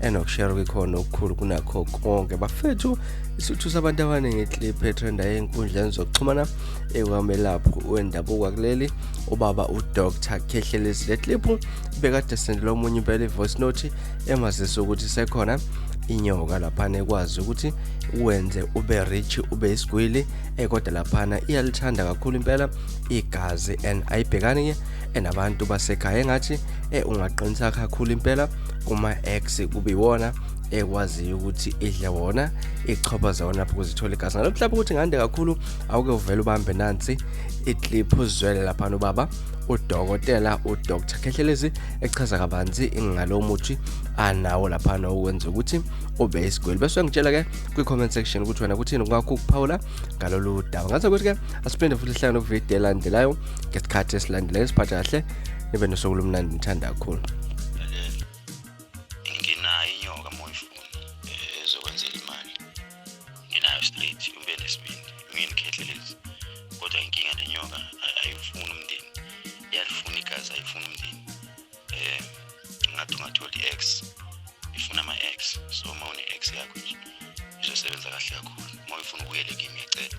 enokushera kwikhona okukhulu kunakho konke bafethu isuthu sabantu abaningi iclip etrenda ey'nkundleni zokuxhumana ekwamelaphi wendabuko kuleli ubaba udr khehlelezi le clip bekade sendele omunye impela i-voice note emazisa ukuthi sekhona inyoka laphana ekwazi ukuthi wenze ube rich ube isigwili ekodwa eh, laphana iyalithanda kakhulu impela igazi and ayibhekani-ke enabantu eh, basekhaya engathi eh, ungaqinisa kakhulu impela kuma-ex kube iwona ekwaziyo ukuthi idle wona ichopha zawona lapho kuzithola igazi ngalokuthi lapho ukuthi ngande kakhulu awuke uvele ubambe nansi iclip uzwele laphana ubaba udokotela udr khehlelezi echaza kabanzi ngalo muthi anawo laphana okwenza ukuthi ube isigwili bese ngitshela ke kwi-comment section ukuthi wena kuthini kungakho ukuphawula ngalolu daba ngathi ukuthi-ke asiphinde futhi sihlangane kuvidiyo elandelayo ngesikhathi esilandelayo siphathe kahle nibe nosuku lomnandi ngithanda kakhulu nginayo inyoka moyifuna eh, ezokwenzela imali nginayo straight ube nesibindi ngiyikhethelezi kodwa inkinga nenyoka ayifuni umndeni iyalifuna igazi ayifuni umndeni eh ngathi ungatholi ex ifuna ama ex so uma une ex yakho nje izosebenza kahle kakhulu uma uyifuna ubuyele kimi ngiyacela